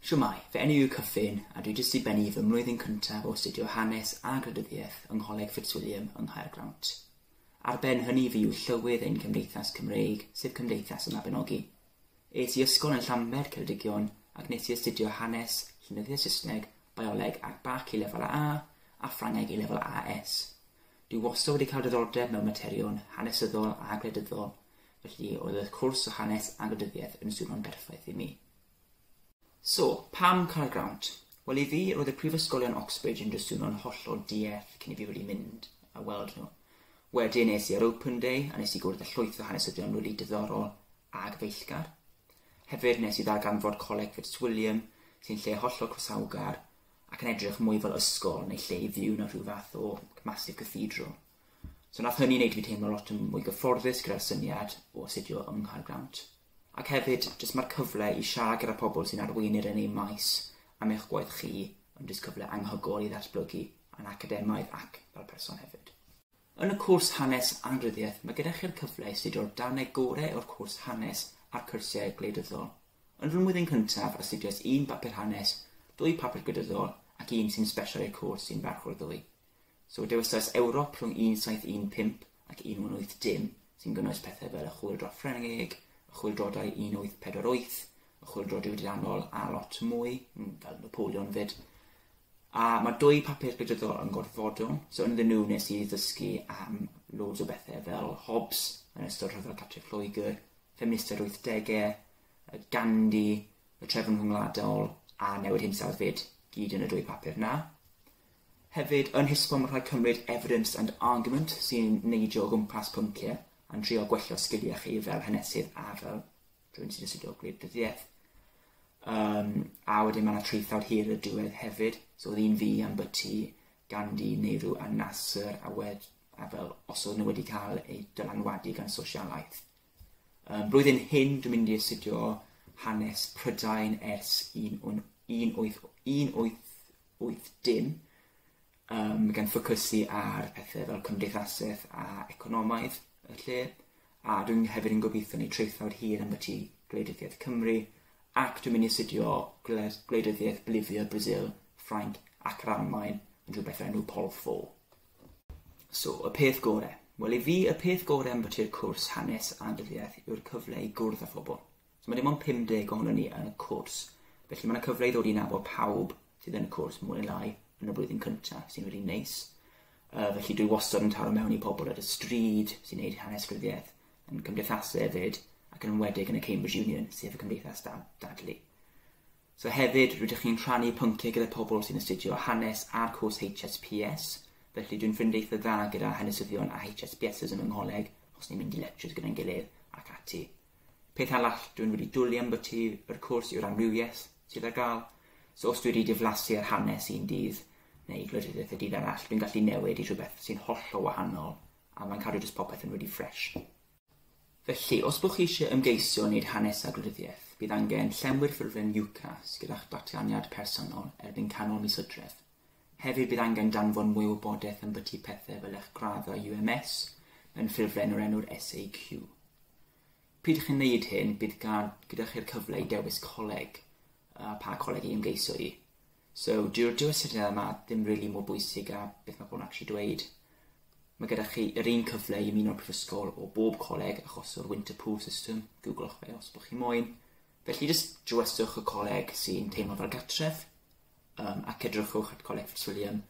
Shwmae, fy enw yw Cyffin a dwi jyst i bennu fy mlwyddyn cyntaf o astudio Hanes a Gwleidyddiaeth yng Ngholeg Fitzwilliam yng Nghaergrawnt. Ar ben hynny fi yw llywydd ein cymdeithas Cymreig, sef Cymdeithas y Mabinogi. Es i ysgol yn Llanbed, Ceredigion, ac nes i astudio Hanes, Llenyddiaeth Saesneg, Bioleg ac Bac i lefel A, a Ffrangeg i lefel AS. Dwi wastad wedi cael diddordeb mewn materion hanesyddol a gwleidyddol, felly oedd y cwrs o hanes a gwleidyddiaeth yn swnio'n berffaith i mi. So, pam Carl Grant? Wel, i fi, roedd y prifysgolion Oxbridge yn drswno'n hollol dieth cyn i fi wedi mynd a weld nhw. Wedyn es i ar Open Day a nes i gwrdd â llwyth o hanesyddion rili diddorol a gyfeillgar. Hefyd nes i ddarganfod Coleg Fitzwilliam, sy'n lle hollol croesawgar, ac yn edrych mwy fel ysgol neu lle i fyw na rhyw fath o massive cathedral. So nath hynny wneud i fi teimlo lot yn mwy gyfforddus gyda'r syniad o astudio yng Nghaer Grawnt. Ac hefyd, jyst mae'r cyfle i siarad gyda pobl sy'n arweinir yn eu maes am eich gwaith chi yn jyst cyfle anghygol i ddatblygu yn academaidd ac fel person hefyd. Yn y cwrs Hanes a Rhyddiaith mae gyda chi'r cyfle i astudio'r darnau gorau o'r cwrs Hanes a'r cyrsiau gwleidyddol. Yn fy mlwyddyn cyntaf astudiais un bapur hanes, dwy papur gwleidyddol ac un sy'n sbesial i'r cwrs sy'n ferch o'r ddwy. So dewisais Ewrop rhwng 1715 ac 1880 sy'n gynnwys pethau fel y Chwyldro Ffrengig, y Chwyldroadau 1848, y Chwyldro Diwydiannol a lot mwy, fel Napoleon 'fyd. A ma dwy papur gleidyddol yn gorfodo, so ynddyn nhw nes i ddysgu am loads o bethe fel Hobbes yn ystod rhyfel Catrin Lloegr, ffeministiaid wythdege, y Gandhi, y trefn rhyngwladol a newid hinsawdd fyd, gyd yn y dwy papur na. Hefyd, yn Hisbon mae rhaid cymryd evidence and argument sy'n neidio o gwmpas pynciau a'n trio gwella sgiliau chi fel hanesydd a fel rhywun sy'n astudio gwleidyddiaeth. Um, a wedyn mae yna traethawd hir y diwedd hefyd, so oedd un fi am byty Gandhi, Nehru a Nasser, a, wed, a fel os oedd nhw wedi cael eu dylanwadu gan sosialaeth. Um, blwyddyn hyn, dwi'n mynd i astudio hanes Prydain ers 1880, Yym, gan ffocysu ar pethe fel cymdeithaseth a economaidd y lle, a dwi'n hefyd yn gobeithio neud traethawd hir ambyti gwleidyddiaeth Cymru, ac dwi'n mynd i astudio gwled- gwleidyddiaeth Bolivia, Brasil, Ffrainc ac yr Almaen yn rhywbeth o'r enw Pol Fô. So, y peth gore? Wel, i fi, y peth gore ambyti y cwrs Hanes a Dyddiaeth yw'r cyfle i gwrdd â phobl. So mae dim ond 50 ohonon ni yn y cwrs, felly mae 'na cyfle i ddod i nabod pawb sydd yn y cwrs mwy neu lai yn y flwyddyn cynta, sy'n rili neis. Yy felly dwi wastod yn taro mewn i pobl ar y stryd sy'n neud hanes rhyddiaith, yn cymdeithasu hefyd, ac yn enwedig yn y Cambridge Union, sef y cymdeithas da- dadlu. So hefyd, rydych chi'n rhannu pynciau gyda pobl sy'n astudio hanes a'r cwrs HSPS, felly dwi'n ffrind eitha dda gyda hanesyddion a HSPSs yn fy ngholeg, os ni'n mynd i lectures gyda'n gilydd ac ati. Peth arall dwi'n wedi dwli ymbyty yr cwrs yw'r amrywiaeth sydd ar gael. So os dwi wedi diflasu ar hanes un dydd, neu gwleidyddiaeth y dydd arall, dwi'n gallu newid i rhywbeth sy'n hollol wahanol a mae'n cadw jyst popeth yn redi ffresh. Felly, os bo chi eisiau ymgeisio wneud hanes a gwleidyddiaeth, bydd angen llenwi'r ffurflen UCAS gyda'ch datganiad personol erbyn canol mis Hydref. Hefyd bydd angen danfon mwy o wybodaeth ambyti pethau fel eich gradd a UMS mewn ffurflen o'r enw'r SAQ. Pryd chi'n wneud hyn, bydd gan gyda chi'r cyfle i dewis coleg a pa coleg i ymgeiso i. So, dyw'r dyw astudiaethau yma ddim rili mor bwysig a beth mae pobl yn actually dweud. Mae gyda chi yr un cyfle i ymuno'r prifysgol o bob coleg achos o'r Winter Pool System, googlwch fe os bod chi moyn. Felly jyst dywyswch y coleg sy'n teimlo fel gartref. um, ac edrychwch at Coleg Fitzwilliam.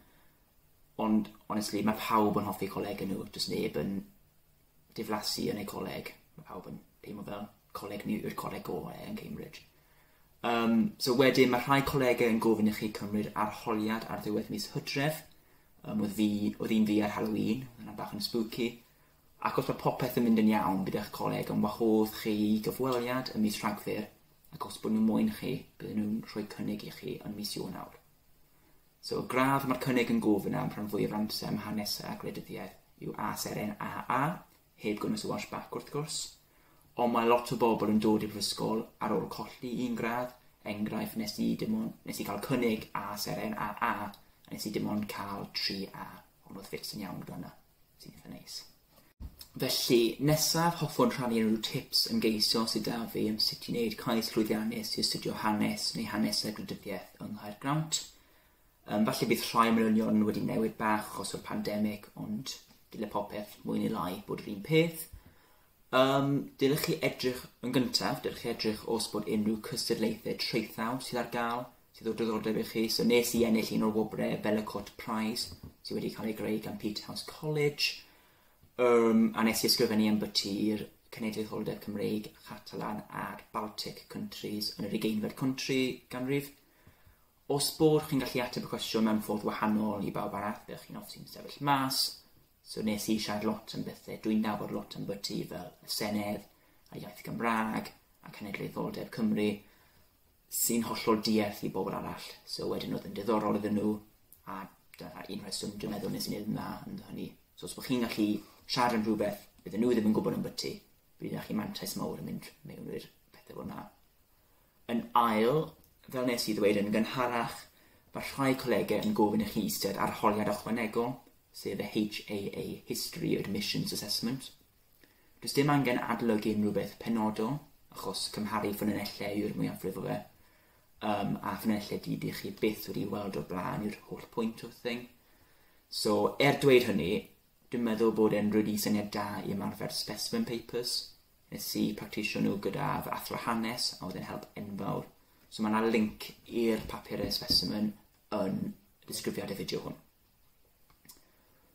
Ond, honestly, mae pawb yn hoffi coleg yn nhw. Does neb yn diflasu yn eu coleg. Mae pawb yn teimlo fel coleg ni yw'r coleg gorau yn Cambridge. Um, so wedyn, mae rhai colegau yn gofyn i chi cymryd arholiad ar ddiwedd mis hydref. Um, oedd, fi, oedd un fi ar Halloween, oedd yna bach yn spooky. Ac os mae popeth yn mynd yn iawn gyda'ch coleg, ond wahodd chi gyfweliad y mis rhagfyr ac os bod nhw moyn chi, bydden nhw'n rhoi cynnig i chi yn mis Ionawr. So y gradd mae'r cynnig yn gofyn am rhan fwyaf amser am hanesau a gwleidyddiaeth yw ASRN AA, heb gynnwys y Welsh Bac wrth gwrs, ond mae lot o bobl yn dod i'r brifysgol ar ôl colli un gradd, enghraifft nes i dim ond, nes i cael cynnig ASRN AA a nes i dim ond cael 3A, ond oedd ffits yn iawn gyda hwnna, sy'n eitha neis. Felly, nesaf hoffwn rhannu unrhyw tips ymgeisio sydd 'da fi am sut i wneud cais llwyddiannus i astudio Hanes neu Hanes a Gwleidyddiaeth yng Nghaergrawnt. Yym, falle bydd rhai manylion wedi newid bach achos o'r pandemig, ond dyle popeth, mwy neu lai, bod yr un peth. Um, dylech chi edrych yn gyntaf, dylech chi edrych os bod unrhyw cystadlaethau traethawd sydd ar gael sydd o diddordeb i chi. So nes i ennill un o'r wobrau, Bella Court Prize, sydd wedi cael ei greu gan Peterhouse College, um, a nes i ysgrifennu am byty'r Cenedlaetholdeb Cymreig, Catalan a'r Baltic Countries yn yr ugeinfed country ganrif. Os bod chi'n gallu ateb y cwestiwn mewn ffordd wahanol i bawb arall, byddwch chi'n offi'n sefyll mas. So nes i siarad lot am bethau, dwi'n nabod lot am byty fel y Senedd, a iaith Gymraeg, a cenedlaetholdeb Cymru, sy'n hollol diarth i bobl arall. So wedyn oedd yn diddorol iddyn nhw, a dyna un rheswm dwi'n meddwl nes i wneud na yn hynny. So os bod chi'n gallu siarad yn rhywbeth, bydd nhw ddim yn gwybod yn byty, bydd yna chi mantais mawr yn mynd mewn i'r pethau fel yna. Yn ail, fel nes i ddweud yn gynharach, mae rhai colegau yn gofyn i chi eistedd ar holiad ychwanegol, sef y HAA History Admissions Assessment. Does dim angen adolygu unrhyw beth penodol, achos cymharu ffynonellau yw'r mwyafrif o fe, um, a ffynonellau di dych chi byth wedi weld o'r blaen yw'r holl pwynt o'r thing. So, er dweud hynny, dwi'n meddwl bod e'n rwydi syniad da i ymarfer specimen papers. Nes i practisio nhw gyda fy athro hanes a oedd e'n help enfawr. So mae yna link i'r papurau specimen yn y disgrifiad y fideo hwn.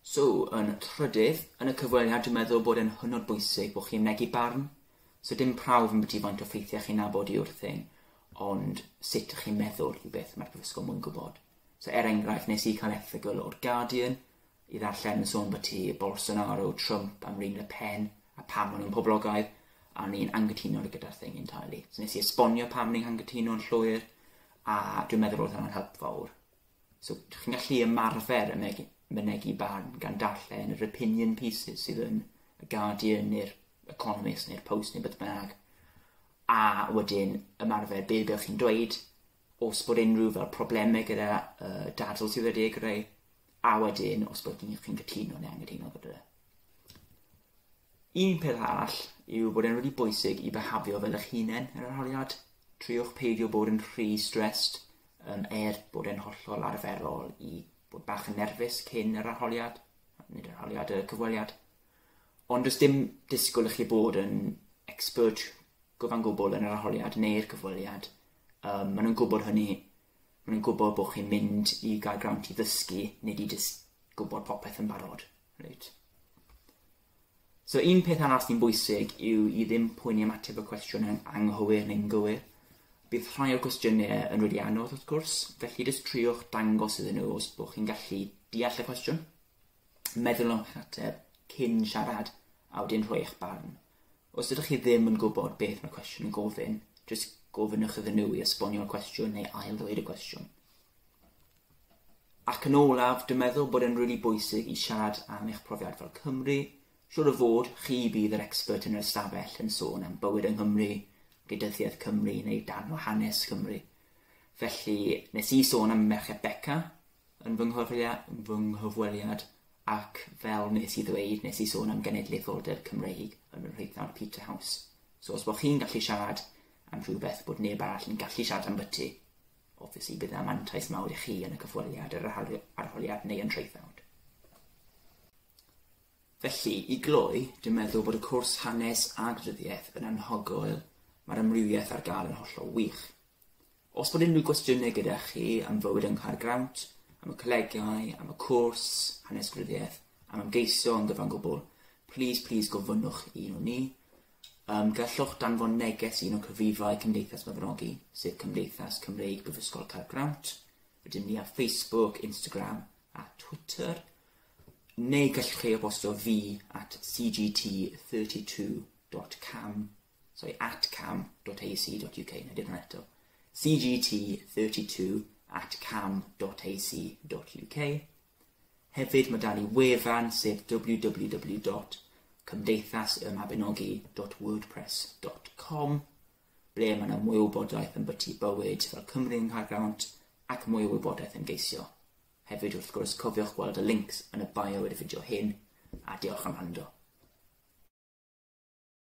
So, yn trydydd, yn y cyfweliad dwi'n meddwl bod e'n hynod bwysig bod chi'n mynegi barn. So dim prawf yn byti faint o ffeithiau chi'n nabod i wrth hyn, ond sut ych chi'n meddwl yw beth mae'r prifysgol mwyn gwybod. So er enghraifft, nes i cael erthygl o'r Guardian i ddarllen yn sôn byti Bolsonaro, Trump, Amryn Le Pen, a pam maen nhw'n poblogaidd, a ni'n angytuno gyda'r thing entirely. So nes i esbonio pam ni'n angytuno yn llwyr, a dwi'n meddwl roedd hwnna'n help fawr. So, dych chi'n gallu ymarfer y megi, mynegi barn gan darllen yr opinion pieces sydd yn y Guardian neu'r Economist neu'r Post neu beth bynnag. A wedyn ymarfer be ydych chi'n dweud, os bod unrhyw fel problemau gyda uh, dadl sydd wedi ei greu, a wedyn os bod chi'n cytuno neu anghytuno gyda fe. Un peth arall yw bod e'n rili bwysig i bihafio fel eich hunen yr arholiad. Triwch peidio bod yn rhy stressed, um, er bod e'n hollol arferol i bod bach yn nerfus cyn yr arholiad, nid yr arholiad, y cyfweliad. Ond does dim disgwyl i chi bod yn expert gyfan gwbl yn yr arholiad neu'r cyfweliad. Um, maen nhw'n gwybod hynny. Maen nhw'n gwybod bod chi'n mynd i gael grant i ddysgu, nid i jyst gwybod popeth yn barod. Reit. So un peth arall sy'n bwysig yw i ddim poeni am ateb y cwestiwn yn anghywir neu'n gywir. Bydd rhai o'r cwestiynau yn rili anodd wrth gwrs, felly jyst triwch dangos iddyn nhw os bod chi'n gallu deall y cwestiwn. Meddwl am eich ateb cyn siarad a wedyn rhoi eich barn. Os ydych chi ddim yn gwybod beth mae'r cwestiwn yn gofyn, jyst gofynnwch iddyn nhw i esbonio'r cwestiwn neu ail-ddweud y cwestiwn. Ac yn olaf, dwi'n meddwl bod e'n rili bwysig i siarad am eich profiad fel Cymry. Siwr o fod, chi bydd yr expert yn yr ystafell yn sôn am bywyd yng Nghymru, gwleidyddiaeth Cymru neu darn o hanes Cymru. Felly, nes i sôn am Merched Beca yn fy nghyfweliad Ac fel nes i ddweud, nes i sôn am genedlaetholdeb Cymreig yn fy nhreuthnawd Peterhouse. So os bod chi'n gallu siarad am rhywbeth bod neb arall yn gallu siarad ambyti, obviously bydd 'na mantais mawr i chi yn y cyfweliad, yr arholiad neu y nhreuthnawd. Felly, i gloi, dwi'n meddwl bod y cwrs Hanes a Gwleidyddiaeth yn anhygoel, mae'r amrywiaeth ar gael yn hollol wych. Os bod unrhyw gwestiynau gyda chi am fywyd yng Nghaergrawnt, am y colegau, am y cwrs, hanes gwleidyddiaeth, am ymgeisio yn gyfan gwbl, plîs, plîs gofynnwch i un o ni. Um, gallwch danfon neges i un o cyfrifau Cymdeithas Mabinogi, sef Cymdeithas Cymreig Brifysgol Caergrawnt. Rydym ni ar Facebook, Instagram a Twitter. Neu gallwch chi e-bostio fi at cgt32.cam sori, at cam.ac.uk, na dim hwnna eto, cgt32 at cam.ac.uk. Hefyd mae da ni wefan sef www cymdeithasymabinogi.wordpress.com ble mae yna mwy o wybodaeth am byty bywyd fel Cymru yng Nghaergrawnt ac mwy o wybodaeth am geisio. Hefyd wrth gwrs cofiwch gweld y links yn y bio i'r fideo hyn a diolch am rando.